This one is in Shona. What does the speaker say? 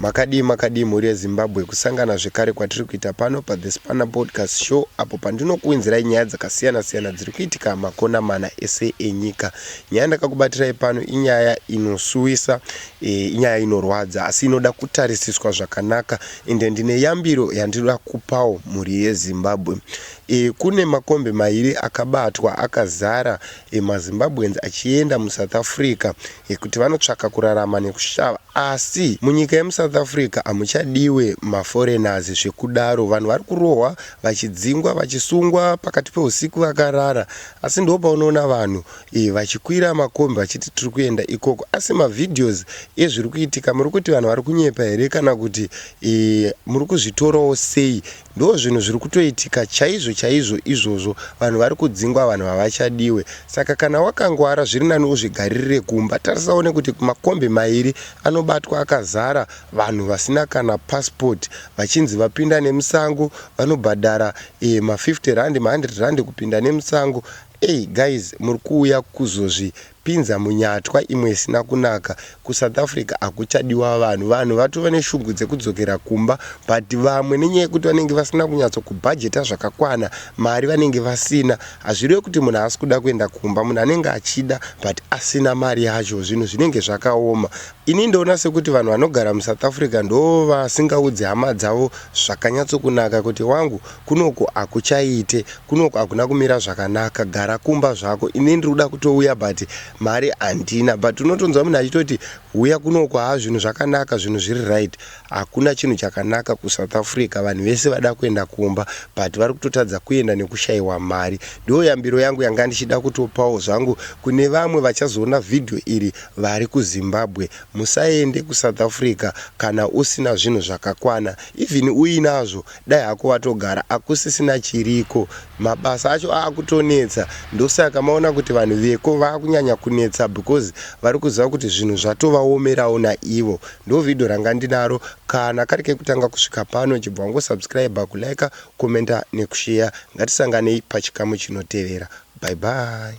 Makadii makadii mhuri yeZimbabwe kusangana zvekare kwatiri kuita pano paThe Spanner Podcast Show apo pandinokuwinzirai nyaya dzakasiyana siyana dziri kuitika makona mana ese enyika. Nyaya ndakakubatirai pano inyaya inosuwisa, e, inyaya inorwadza asi inoda kutarisiswa zvakanaka ende ndine yambiro yandinoda kupawo mhuri yeZimbabwe. E, kune makombi mairi akabatwa akazara e, maZimbabweans achienda muSouth Africa yekuti vanotsvaka kurarama nekushava asi munyika yemusouth africa hamuchadiwe maforeigners zvekudaro vanhu vari kurohwa vachidzingwa vachisungwa pakati peusiku vakarara asi ndo paunoona vanhu e, vachikwira makombi vachiti tiri kuenda ikoko asi mavideos ezviri kuitika muri kuti vanhu vari kunyepa here kana kuti e, muri kuzvitorawo sei Ndozvinhu zviri kutoitika chaizvo chaizvo izvozvo vanhu vari kudzingwa vanhu havachadiwe saka kana wakangwara zviri nani uzvigaririre kumba tarisa one kuti makombi mairi anobatwa akazara vanhu vasina kana passport vachinzi vapinda nemusango vanobhadhara eh, ma 50 rand ma 100 rand kupinda nemusango Ey guys muri kuuya kuzozvi Pinza munyatwa imwe isina kunaka. Ku South Africa hakuchadiwa vanhu. Vanhu vatove neshungu dzekudzokera kumba but vamwe nenyaya yekuti vanenge vasina kunyatso kubhajeta zvakakwana mari vanenge vasina. Hazvirewe kuti munhu haasi kuda kuenda kumba. Munhu anenge achida but asina mari yacho zvinhu zvinenge zvakaoma. Ini ndoona sekuti vanhu vanogara mu South Africa ndoovasingaudzi hama dzavo zvakanyatso kunaka kuti wangu Kunoku hakuchaite, kunoku hakuna kumira zvakanaka, gara kumba zvako, ini ndiri kuda kutouya but mari handina. But unotonzwa munhu achitoti huya kunoku haa zvinhu zvakanaka, zvinhu zviri right. Hakuna chinhu chakanaka kuSouth Africa, vanhu vese vada kuenda kumba but vari kutotadza kuenda nekushaiwa mari. Ndiyo yambiro yangu yanga ndichida kutopawo zvangu kune vamwe vachazoona video iri vari kuZimbabwe. Musaende kuSouth Africa kana usina zvinhu zvakakwana, even uinazvo Dai hako watogara akusisina chiriko mabasa acho akutonetsa ndosaka maona kuti vanhu veko vakunyanya kunetsa because varikuziva kuti zvinhu zvatovaomerawo naivo ndo video ranga ndinaro kana kari kekutanga kusvika pano chibva wango subscriber kuliker commenter nekusheya ngatisanganei pachikamu chinotevera bye bye